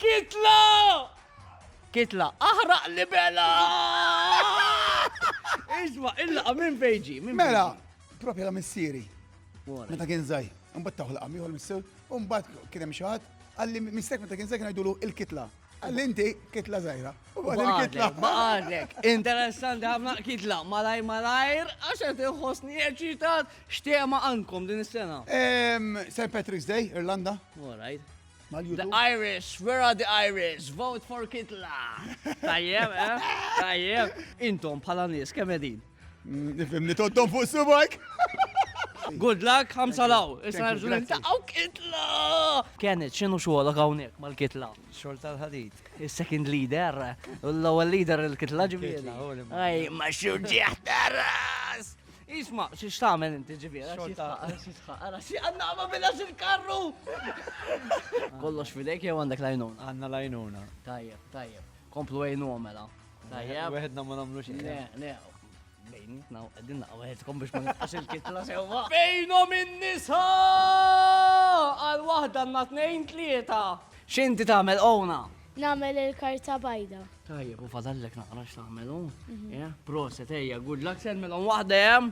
Kitla! Kitla, aħraq li bela! Isma, illa minn fejġi, minn Mela, propja la missiri. Meta kien zaj, un bat taħlaq miħu l-missir, un bat kien hemm xaħat, għalli mistek meta kien zaj kien għajdulu il-kitla. Għallinti, kitla zaħira. Kitla. Għadek, interessanti għafna kitla, malaj malajr, għaxet il-ħosni eċitat, xtema għandkom din is-sena. St. Patrick's Day, Irlanda. All right. The Irish, where are the Irish? Vote for Kitla. Tajjeb, eh? Tajjeb. Intom bħala nies kemm edin? Nifimni toddom fuq subajk. Good luck, ħamsa law. Issa nerġu nintaqaw kitla! Kenneth, xinu xogħolok hawnhekk mal-kitla? Xogħol tal-ħadid. Is-second leader, u l-ewwel leader il-kitla ġifieri. Ej, ma xurġieħ terras! Isma, xiex tamen inti ġifieri? Xorta. Għara, xie għannama bilas il-karru! Kollox fidejk jew għandek lajnuna? Għanna lajnuna. Tajjeb, tajjeb. Komplu għajnu għamela. Tajjeb. Weħedna ma nagħmlu xejn. Le, le. Bejni, naw, qegħdin naqgħu weħedkom biex ma nitqax il-kitla sewwa. Bejnhom in-nisa! Għal waħda għandna tnejn tlieta. X'inti tagħmel owna? Nagħmel il-karta bajda. Tajjeb, u fadallek naqra x'tagħmel hu. Mhm. Eh, proset, ejja, good luck, selmilhom waħda hemm.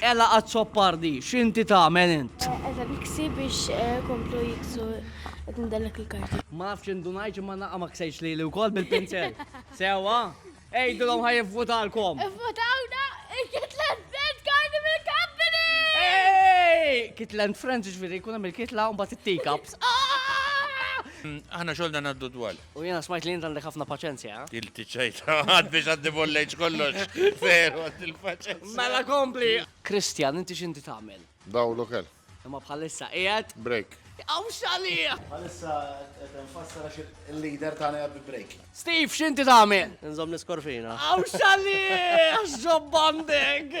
Ela Azzopardi, x'inti tagħmel int? Qiegħda niksi biex ikomplu jiksu qed indellek il-karti. Ma nafx indunajtx imma naqqa' ma ksejtx lili wkoll bil-pinzell. Sewwa? Għidilhom ħa jivvutalkom. Ivvutawna il-Kitland Friends Carnival Company! Eej! Kitland Friends jiġifieri jkun hemm il-kitla u mbagħad it-teacups. Aah! Aħna xogħolna ngħaddu d-dwal. U jiena smajt li int għandek ħafna paċenzja, ha? Tilti ċajta, għad biex għaddi bollejċ kollox. Veru għad il-paċenzja. Mela kompli! Kristjan, inti xinti tagħmel? Daw l-okel. Imma bħalissa qiegħed? Break. Għaw xalija! Bħalissa qed nfassar għax il-leader tagħna jgħad bi break. Steve, xinti tagħmel? Nżomm l-iskorfina. Għaw xalija! Ġobbandek!